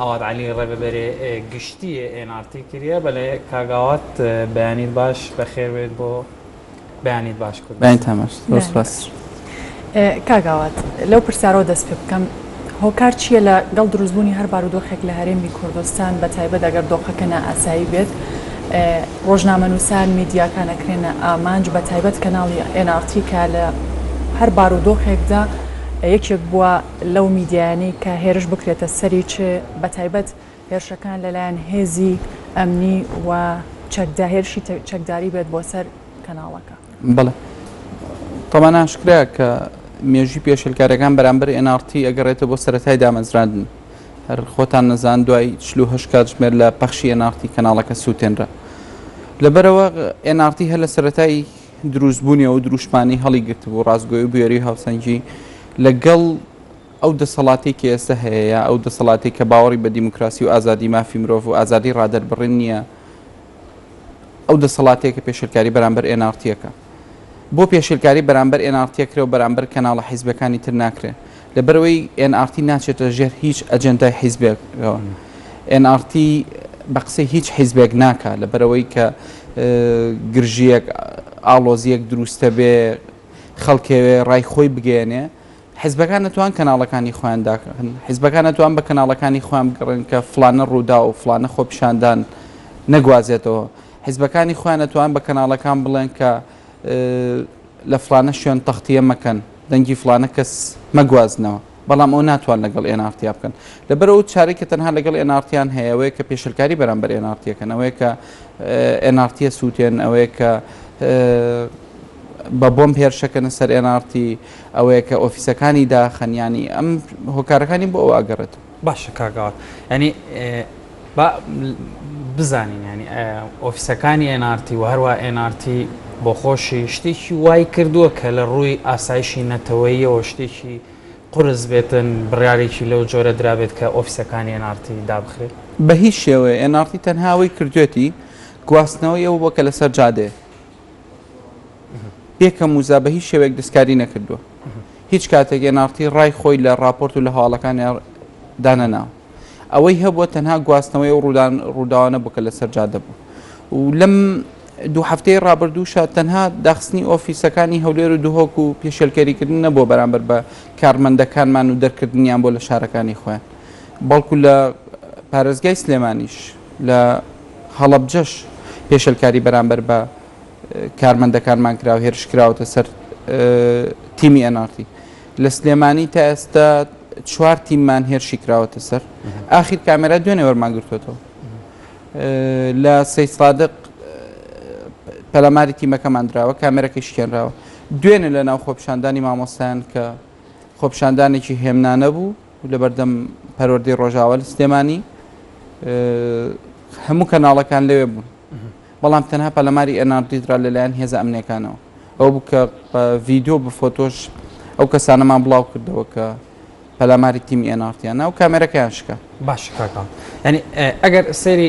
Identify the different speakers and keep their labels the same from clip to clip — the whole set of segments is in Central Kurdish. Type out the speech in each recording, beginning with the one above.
Speaker 1: ئاوات عەلی ڕێببەرێ گشتیێ ئێن ئار تی کریە. بەلێ کاک ئاوات بەیانیت باش بەخێر بێت بۆ بەیانیت باش کورد بەیان تان باش زۆر سوپاس.
Speaker 2: کاک ئاوات لەو پرسیارەوە دەست پێ بکەم هۆکار چیە لە گەڵ دروست بوونی هەر بارودۆخێک لە هەرێمی کوردستان بە تایبەت ئەگەر دۆخەکە نا ئاسایی بێت ڕۆژنامە نووسان میدیاکان ئەکرێنە ئامانج بە تایبەت کەناڵی ئێن ئار تی کە لە هەر بارودۆخێکدا یەکێک بووە لەو میدیایانەی کە هێرش بکرێتە سەری چ بەتایبەت هێرشەکان لەلایەن هێزی ئەمنی و چەکدا هێرشی چەکداری بێت بۆ سەر کەناڵەکە. بەڵێ
Speaker 3: تەمان ئاشکرا کە مێژی پێشلکارەکان بەرامبەر NRT ئەگەڕێتە بۆ سەتای دامەزراندن هەر خۆتان نەزان دوای چلوهه کاتژمێر لە پەخشی NRT کەناڵەکە سووتێنرا لەبەرەوە NRT هەر لە سەتای دروست بوونی ئەو دروشمانەی هەڵی گرتبوو، ڕاستگۆی و بوێری و هاوسەنگی لە گەڵ ئەو دەسەڵاتەی کە ئێستە هەیەیە، ئەو دەسەڵاتەی کە باوەڕی بە دیموکراسی و ئازادی مافی مرۆڤ و ئازادی ڕادەربڕین نییە، ئەو دەسەڵاتەیە کە پێشێلکاری بەرامبەر ئێنارتییەکە. بۆ پێشێلکاری بەرامبەر ئێنارتییەکرێ و بەرامبەر کەناڵە حیزبەکانی تر ناکرێ. لەبەرئەوەی ئێن ئاڕ تی ناچێتە ژێر هیچ ئەجێندای حیزبێکەوە، ئێن ئاڕ تی بە قسەی هیچ حیزبێک ناکا، لەبەرئەوەی کە گرژییەک، ئاڵۆزییەک دروستەبێ، خەڵکەوێ ڕای خۆی بگەیەنێ، حیزبەکان نەتوان کەناڵەکانی خۆیان داخن، حیزبەکان نەتوان بە کەناڵەکانی خۆیان بگەڕێن کە فڵانە ڕووداو، فڵانە خۆپیشاندان نەگوازێتەوە، حیزبەکانی خۆیان نەتوان بە کەناڵەکان بڵێن کە. لە فڵانە شوێن تەختیە مەکەن، دەنگی فڵانە کەس مەگوازنەوە، بەڵام ئەو ناتوان لەگەڵ ئێنارتیا بکەن. لەبەر ئەو چارەی کە تەنها لەگەڵ ئێنارتیان هەیە ئەوەیە کە پێشێلکاری بەرامبەر ئێنارتی ئەکەن، ئەوەیە کە ئێنارتیە سووتێن، ئەوەیە کە بە بۆمب هێرش ئەکەنە سەر ئێنارتی، ئەوەیە کە ئۆفیسەکانی داخەن، یانی ئەم هۆکارەکانی بۆ ئەوە ئەگەڕێتەوە. باشە کاک ئاوات
Speaker 1: یانی با بزانین ینی ئۆفیسەکانی ئێنارتی و هەروە ئێنارتی بۆخۆشی شتێکی وای کردووە کە لە ڕووی ئاسایشی نەتەوەیەوە شتێکی قرس بێتن بڕارێکی لەو جۆرە درابێت کە ئۆفیسەکانی ئێنارتی دابخرێت بە هیچ شێوەیە
Speaker 3: ئێنارتی تەنها ئەوەی کردوێتی گواستنەوەی ئەو بووە کە لەسەر جادەیە. پێکەم وزا بە هیچ شێوەیەک دەستکاری نەکردووە هیچ کاتێک ئێناڕتی ڕای خۆی لە راپۆرت و لە هەواڵەکانی دانەنا ئەوەی هەبووە تەنها گواستنەوەی و ڕوودان ڕووداوانە بکە لەسەر جادە بوو و لەم دوو هەفتەی ڕابردووشە تەنها داخستنی ئۆفیسەکانی هەولێر و دهۆک و پێشێلکەریکردن نەبووە بەرامبەر بە کارمەندەکانمان و دەرکردنیان بۆ لە شارەکانی خۆیان بەڵکو لە پارێزگای سلێمانیش لە هەڵەبجەش پێشێلکاری بەرامبەر بە کارمەندەکانمان کرا و هێرش کراوەتە سەر تیمی ئێن ئاڕ تی. لە سلێمانی تا ئێستا چوار تیممان هێرشی کراوەتە سەر. ئاخیر کامێرا دوێنێ وەرمان گرتووەتەوە. لە سەید سادق پەلاماری تیمەکەمان دراوە، کامێرەکەی شکێنراوە. دوێنێ لەناو خۆپیشاندانی مامۆستایان کە خۆپیشاندانێکی هێمنانە بوو، لەبەردەم پەروەردەی ڕۆژاوا لە سلێمانی هەموو کەناڵەکان لەوێ بوون بەڵام تەنها پەلەماری ئێنار دیدرا لەلایەن هێزە ئەمنیەکانەوە ئەو بکە ڤیددیو بە فۆتۆش ئەو کەسانەمان بڵاو کردەوە کە پەلاماری تیمی ئێنارتیان ناو کامێرەکەیان شکە باش کاکەم
Speaker 1: ینی ئەگەر سەیری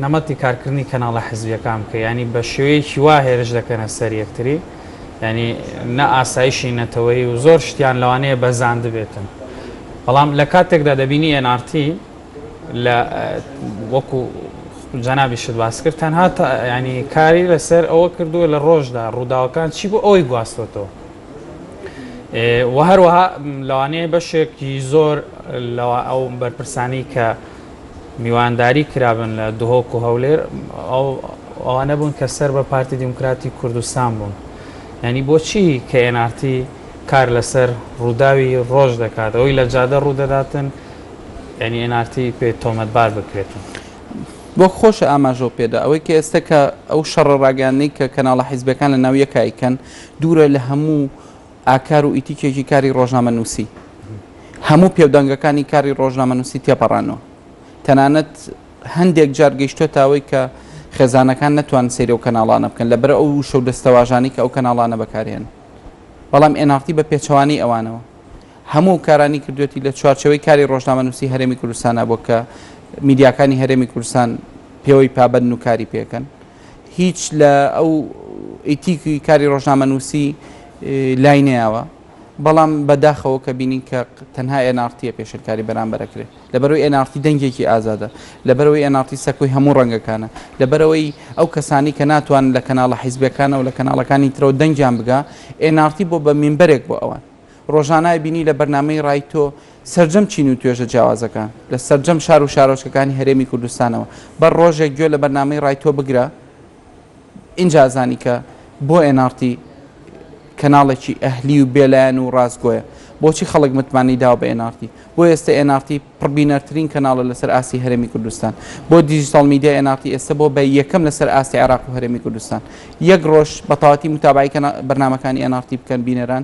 Speaker 1: نەمەتی کارکردنی کەناڵە حزبیەکان بکە ینی بە شێوەیەکی وا هێرش دەکەنە سەر یەکتری یانی نە ئاسایشی نەتەوەیی و زۆر شتیان لەوانەیە بەزاندبێتن بەڵام لە کاتێکدا دەبینی NRT لە وەکو جەنابی شت باس کرد تەنها ینی کاری لەسەر ئەوە کردووە لە ڕۆژدا ڕووداوەکان چی بۆ ئەوەی گواستۆتەوە و هەروەها لەوانەیە بەشێکی زۆر لەوە ئەو بەرپرسانی کە میوانداری کرابن لە دهۆک و هەولێر ئەو ئەوانە بوون کە سەر بە پارتی دیموکراتی کوردستان بوون ینی بۆچی کە ئێنارتی کار لەسەر ڕووداوی ڕۆژ دەکات ئەوی لە جادە ڕوودەداتن ینی ئێنارتی پێ تۆمەتبار بکرێتن بۆ
Speaker 3: خۆش ئاماژۆ پێدا ئەوەی کە ئێستا کە ئەو شەڕە ڕاگەاندنەی کە کەناڵە حیزبەکان لە ناو یەکایکەن دوورە لە هەموو ئاکار و ئیتیکێکی کاری ڕۆژنامەنووسی هەموو پێودانگەکانی کاری ڕۆژنامەنووسی تێپەڕاندوە، تەنانەت هەندێک جار گەیشتۆتە ئەوەی کە خێزانەکان نەتوانن سەیری ئەو کەناڵانە بکەن لەبەر ئەو وشە و دەستەواژانەی کە ئەو کەناڵانە بەکارهێنن. بەڵام ئێن ئاڕ تی بە پێچەوانەی ئەوانەوە هەموو ئەو کارانەی کردوەتی لە چوارچێوەی کاری ڕۆژنامەنووسی هەرێمی کوردستانا بۆ کە میدیاکانی هەرێمی کوردستان پێوەی پابەندن و کاری پێکەن. هیچ لە ئەو ئیتیکی کاری ڕۆژنامەنووسی لای نەیاوە، بەڵام بە داخەوە کە بینین کە تەنها ئێن ئاڕ تییە پێشێلکاری بەرامبەر ئەکرێ. لەبەرئەوەی ئێن ئاڕ تی دەنگێکی ئازادە، لەبەرئەوەی ئێن ئاڕ تی سەکۆی هەموو ڕەنگەکانە، لەبەرئەوەی ئەو کەسانەی کە ناتوانن لە کەناڵە حیزبییەکانەوە لە کەناڵەکانی ترەوە دەنگیان بگا، ئێن ئاڕ تی بووە بە مینبەرێک بۆ ئەوان. ڕۆژانای بینی لە بەرنامەی ڕای تۆ سەرجەم چین و توێژە جیاوازەکان لە سەرجەم شار و شارۆچکەکانی هەرێمی کوردستانەوە بەر ڕۆژێک گوێ لە بەرنامەی ڕای تۆ بگرە ئینجا زانی کە بۆ nrt کەناڵێکی ئەهلی و بێلایەن و ڕاستگۆیە بۆچی خەڵک متمانەی داوە بە nrt بۆ ئێستە nrt پڕبینەرترین کەناڵە لەسەر ئاستی هەرێمی کوردستان بۆ دیجیتاڵ میدیای nrt ئێستە بۆ بە یەکەم لەسەر ئاستی عێراق و هەرێمی کوردستان یەک ڕۆژ بە تەواوەتی متابعەی کەنا بەرنامەکانی nrt بکەن بینەران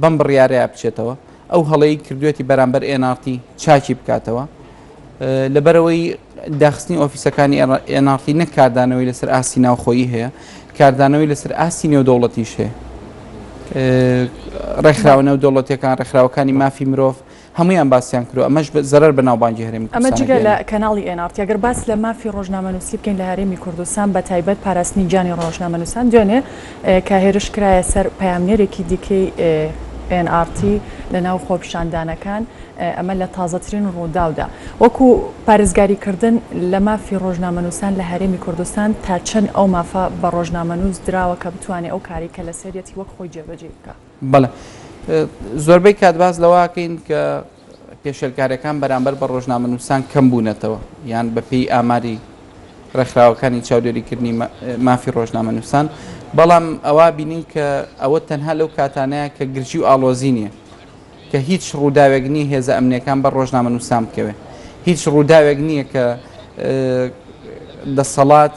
Speaker 3: بەم بڕیارەیا بچێتەوە ئەو هەڵەی کردوێتی بەرامبەر ئێناڕتی چاکی بکاتەوە لەبەرەوەی داخستنی ئۆفیسەکانی ئێناڕتی نەک کاردانەوەی لەسەر ئاستی ناوخۆیی هەیە کاردانەوەی لەسەر ئاستی نێودەوڵەتیش هەیە ڕێکخراوە نێودەوڵەتەکان ڕێکخراوەکانی مافی مرۆڤ هەموویان باسیان کرد و ئەمەش زەرەر بە ناوبانگی هەرێمی ئەمە کوردستان جگە لە ئەگەیەنێت. کەناڵی
Speaker 2: ئێن ئاڕ تی. ئەگەر باس لە مافی ڕۆژنامەنووسی بکەین لە هەرێمی کوردستان بە تایبەت پاراستنی گیانی ڕۆژنامەنووسان دوێنێ کە هێرش کرایە سەر پەیامنێرێکی دیکەی ئێن ئاڕ تی لە ناو خۆپیشاندانەکان ئەمە لە تازەترین ڕووداودا وەکو پارێزگاری کردن لە مافی ڕۆژنامەنووسان لە هەرێمی کوردستان تا چەند ئەو مافە بە ڕۆژنامەنووس دراوە کە بتوانێ ئەو کارەی کە لەسەریەتی وەک خۆی جێبەجێی بکا؟ بەڵێ
Speaker 3: زۆربەی کات باس لەوەکەین کە پێشێلکاریەکان بەرامبەر بە ڕۆژنامە نووسان کەم بوونەتەوە یان بەپێی ئاماری ڕێکخراوەکانی چاودێریکردنی مافی ڕۆژنامە نووسان بەڵام ئەوە بینین کە ئەوە تەنها لەو کاتانەیە کە گرژی و ئاڵۆزی نییە کە هیچ ڕووداوێک نییە هێزە ئەمنیەکان بە ڕۆژنامە نووسان بکەوێت هیچ ڕووداوێک نییە کە دەسەڵات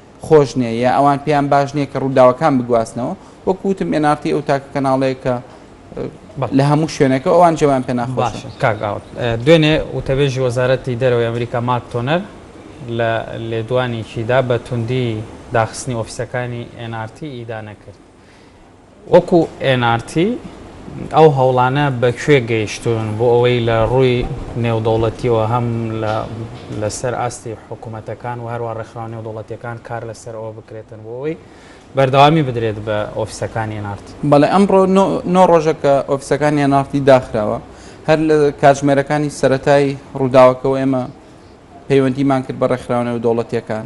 Speaker 3: خۆش نیە یا ئەوان پێیان باش نیە کە ڕوداوەکان بگواستنەوە وەکو وتم ئێن ئاڕ تی ئەو تاکە کەناڵەیە کە لە هەموو شوێنەکە ئەوان جێوان پێ ناخۆشە. باشە کاک ئاوات
Speaker 1: دوێنێ وتەبێژی وەزارەتی دەرەوەی ئەمریکا ماک تۆنەر لە لێدوانێکیدا بە توندی داخستنی ئۆفیسەکانی ئێن ئاڕ تی ئیدانە کرد. وەکو ئێن ئار تی، ئەو هەوڵانە بە کوێ گەیشتوون بۆ ئەوەی لە ڕووی نێودەوڵەتییەوە هەم لە سەر ئاستی حکومەتەکان و هەروەها ڕێکخراوە نێودەوڵەتییەکان کار لە سەر ئەوە بکرێتن بۆ ئەوەی بەردەوامی بدرێت بە ئۆفیسەکانی ئێن ئار تی؟ بەڵێ، ئەمڕۆ
Speaker 3: نۆ ڕۆژە کە ئۆفیسەکانی ئێن ئار تی داخراوە، هەر لە کاتژمێرەکانی سەرەتای ڕووداوەکەوە ئێمە پەیوەندیمان کرد بە ڕێکخراوە نێودەوڵەتییەکان،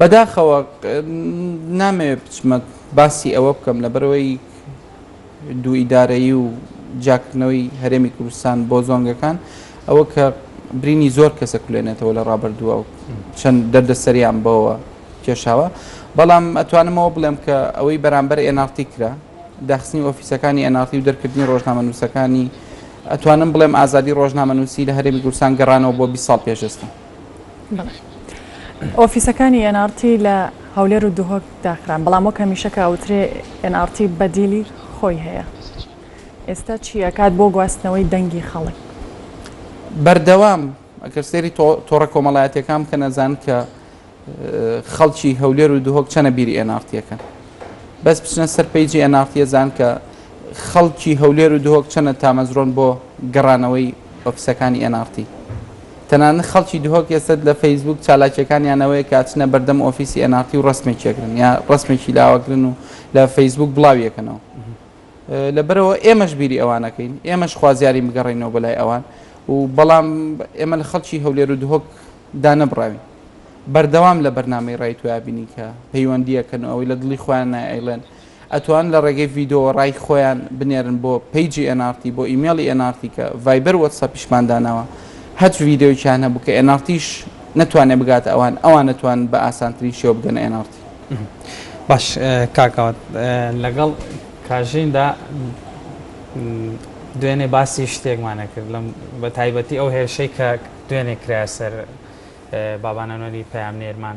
Speaker 1: بەداخەوە
Speaker 3: نامەوێت بچمە باسی ئەوە بکەم لەبەرەوەی دوو ئیدارەیی و جیاکردنەوەی هەرێمی کوردستان بۆ زۆنگەکان ئەوە کە برینی زۆر کەسە کولێنێتەوە لە ڕابردووە و چەند دەردەسەریان بەوە کێشاوە بەڵام ئەتوانمەوە بڵێم کە ئەوەی بەرامبەر ئێنارتی کرا داخستنی ئۆفیسەکانی ئەنارتی و دەرکردنی ڕۆژنامە نووسەکانی ئەتوانم بڵێم ئازادی ڕۆژنامە نووسی لە هەرێمی گورسان گەڕانەوە بۆ 20 ساڵ پێشێستا
Speaker 2: ئۆفیسەکانی ئێن ئاڕ تی لە هەولێر و دهۆک داخران، بەڵام وەک هەمیشە کە ئەوترێ ئێن ئاڕ تی بەدیلی خۆی هەیە. ئێستا چی ئەکات بۆ گواستنەوەی دەنگی خەڵک؟
Speaker 3: بەردەوام ئەگەر سەیری تۆڕە کۆمەڵایەتیەکان بکەن ئەزان کە خەڵکی هەولێر و دهۆک چەنە بیری ئێن ئاڕ تی ئەکەن. بەس بچنە سەر پەیجی ئێن ئاڕ تی ئەزان کە خەڵکی هەولێر و دهۆک چەنە تامەزرۆن بۆ گەڕانەوەی ئۆفیسەکانی ئێن ئاڕ تی؟ تەنانەت خەڵکی دهۆک ئێستە لە فەیسبووک چالاکییەکانیان ئەوەیە کە ئەچنە بەردەم ئۆفیسی ئێن ئاڕ تی و ڕەسمێکی ئەگرن یا ڕەسمێکی لا ئەگرن و لە فەیسبووک بڵاوی ئەکەنەوە. لەبەرئەوە ئێمەش بیری ئەوان ئەکەین، ئێمەش خوازیارین بگەڕێینەوە بەلای ئەوان و بەڵام ئێمە لە خەڵکی هەولێر و دهۆک دانەبڕاوین. بەردەوام لە بەرنامەی ڕای تۆیا بینین کە پەیوەندی ئەکەن و ئەوەی لە دڵی خۆیانە ئەیڵێن. ئەتوان لە ڕێگەی ڤیدۆوە ڕای خۆیان بنێرن بۆ پەیجی ئێن ئاڕ تی بۆ ئیمێڵی ئێن ئاڕ تی کە ڤایبەر وەتسەپیشمان داناوە هەچ ڤیدۆیەکیان هەبوو کە ئێن ئاڕ تیش نەتوانێ بگاتە ئەوان ئەوان ئەتوان بە ئاسانترین شێوە بگەنە ئێن ئاڕ تی. باش
Speaker 1: کاک ئاوات لەگەڵ کاژین دا دوێنێ باسی شتێکمان ئەکرد لەم بە تایبەتی ئەو هێرشەی کە دوێنێ کرایە سەر بابان ئەنوەری پەیامنێرمان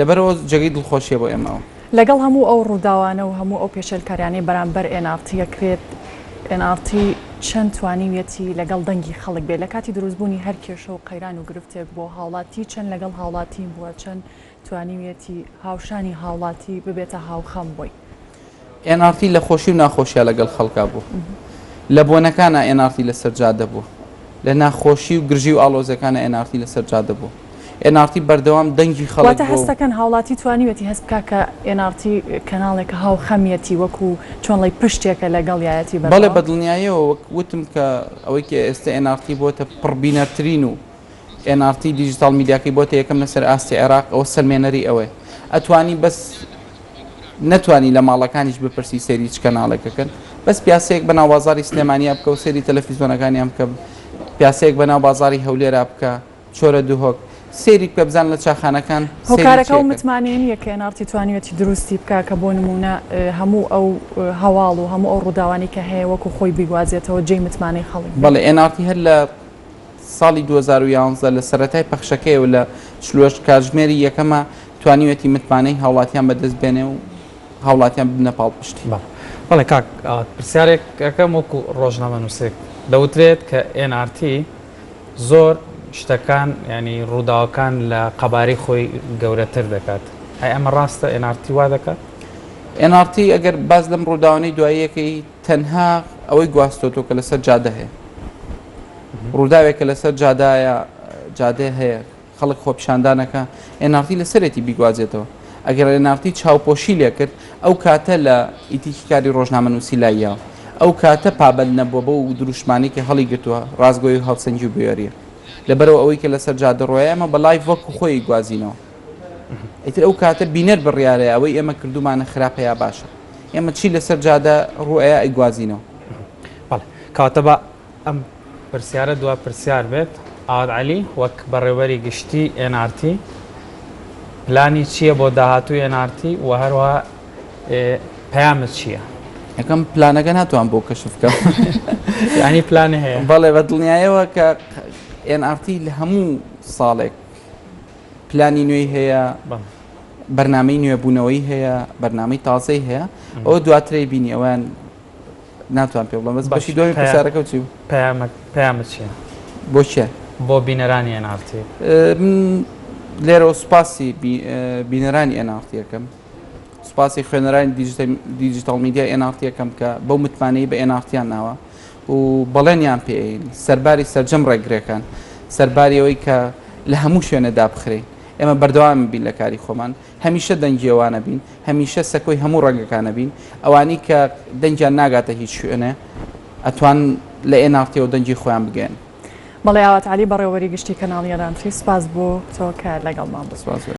Speaker 3: لەبەرئەوە جێگەی دڵخۆشیە بۆ ئێمە ئەوە. لەگەڵ هەموو ئەو
Speaker 2: ڕووداوانە و هەموو ئەو پێشێلکاریانەی بەرامبەر ئێن ئاڕ تی ئەکرێت، ئێن ئاڕ تی چەند توانیویەتی لەگەڵ دەنگی خەڵک بێت لەکاتی دروستبوونی هەر کێشە و قەیران و گرفتێک بۆ هاوڵاتی، چەند لەگەڵ هاوڵاتین بووە، چەند توانیویەتی هاوشانی هاوڵاتی ببێتە هاوخەم بۆی. ئێن ئاڕ تی
Speaker 3: لە خۆشی و ناخۆشیا لەگەڵ خەڵکا بووە. لە بۆنەکانا ئێن ئاڕ تی لەسەر جادە بووە. لە ناخۆشی و گرژی و ئاڵۆزیەکانا ئێن ئاڕ تی لەسەر جادە بووە. ئێن ئاڕ تی بەردەوام دەنگی خەڵک واتە بووە هەست و. دەکەن هاوڵاتی
Speaker 2: توانیویەتی هەست بکا کە ئێن ئاڕ تی کەناڵێکە هاو خەمیەتی وەکو چۆن ڵێی پشتێکە لەگەڵیایەتی بەڵێ بە بەردەوام. دڵنیایەوە
Speaker 3: وەک وتم کە ئەوەی کە ئێستە ئێن ئاڕ تی بۆتە پڕ بینەرترین و ئێن ئاڕ تی دیجیتاڵ میدیاکەی بۆتە یەکەم لەسەر ئاستی عێراق ئەوە سەلمێنەری ئەوەیە. ئەتوانی بەس. نەتوانی لە ماڵەکانیش بپرسی سەیری چ کەناڵێک ئەکەن بەس پیاسەیەک بەناو بازاری سلێمانیا بکە و سەیری تەلەفیزۆنەکانیان بکە پیاسەیەک بەناو بازاری هەولێرا بکە چۆرە دهۆک سەیری بکە بزان لە چاخانەکان هۆکارەکە و
Speaker 2: متمانەیە نییە کە ئێناڕتی توانیوێتی دروستی بکە کە بۆ نمونە هەموو ئەو هەواڵ و هەموو ئەو ڕووداوانی کە هەیە وەکو خۆی بیگوازێتەوە جێی متمانەی خەڵک بەڵێ ئێناڕتی هەر لە
Speaker 3: ساڵی دوو هەزار و یازدە لە سەرەتای پەخشەکەیەوە لە چل و هەشت کاتژمێری یەکەما توانیویەتی متمانەی هاوڵاتیان بەدەست بێنێ و هاوڵاتیان ببنە پاڵپشتی. بەڵێ بەڵێ کاک
Speaker 1: ئاوات پرسیارێک ئەکەم وەکو ڕۆژنامەنووسێک دەوترێت کە ئێن ئار تی زۆر شتەکان یانی ڕووداوەکان لە قەبارەی خۆی گەورەتر دەکات ئەی ئەمە ڕاستە ئێن ئار تی وا دەکات؟ ئێن ئار تی
Speaker 3: ئەگەر باس لەم ڕووداوانەی دواییەکەی تەنها ئەوەی گواستۆتەوە کە لەسەر جادە هەیە. ڕووداوێک کە لەسەر جادایە جادەیە هەیە خەڵک خۆپیشاندانەکە ئێن ئاڕ تی لەسەرێتی بیگوازێتەوە ئەگەر ئێن ئاڕ تی چاوپۆشی لێکرد ئەو کاتە لە ئیتیکی کاری ڕۆژنامەنووسی لاییاوە ئەو کاتە پابەند نەبووە بەو دروشمانەی کە هەڵیگرتووە ڕاستگۆی و هاوسەنگی و بوێرییە لەبەرئەوەی کە لەسەر جادە ڕۆیە ئێمە بە لایڤ وەکو خۆی ئەیگوازینەوە. ئیتر ئەو کاتە بینەر بڕیارەیە ئەوەی ئێمە کردومانە خراپە یا باشە ئێمە چی لەسەر جادە ڕوئەیە ئەیگوازینەوە بەڵێ
Speaker 1: کاتەبا ئەم پرسیارە دوا پرسیار بێت ئاوات علی وەک بەڕێوەری گشتی NRT پلانی چییە بۆ داهاتوی NRT و هەروە پەیامت چییە؟ یەکەم پلانەکە
Speaker 3: ناتوان بۆ کەشف بکەم ینی
Speaker 1: پلان هەیە بەڵێ بە دڵنیایەوە
Speaker 3: کە NRT لە هەموو ساڵێک پلانی نوێی هەیە بەرنمەی نوێبوونەوەی هەیە بەرنمەی تازەی هەیە ئەو دواترەی بینی ئەویان ناتوان پێ بڵم بەس بەشی دوای پرسیارەکە چی پامە
Speaker 1: چیە بۆ چیە
Speaker 3: بۆ بینەرانی
Speaker 1: ئەنارتی
Speaker 3: لێرە سوپاسی بینەرانی ئەنارتیەکەم سوپاسی خوێنەرانی دیجیتال میدیا ئەنارتیەکەم کە بەو متمانەی بە ئەنارتیان ناوە و بەڵێنیان پێین سەرباری سەرجەم ڕێگرێکان سەرباری ئەوەی کە لە هەموو شوێنێ دابخرێین ئێمە بەردەوام بین لە کاری خۆمان هەمیشە دەنگی ئەوانە بین هەمیشە سەکۆی هەموو ڕەنگەکانە بین ئەوانی کە دەنگیان ناگاتە هیچ شوێنێ ئەتوان لە ئێناڵتیەوە دەنگی خۆیان بگەن.
Speaker 2: مەڵێ ئاوات عەلی بەڕێوەبەری گشتی کەناڵی ئەلانتری
Speaker 3: سوپاس
Speaker 2: بۆ تۆ کە لەگەڵمان بووی.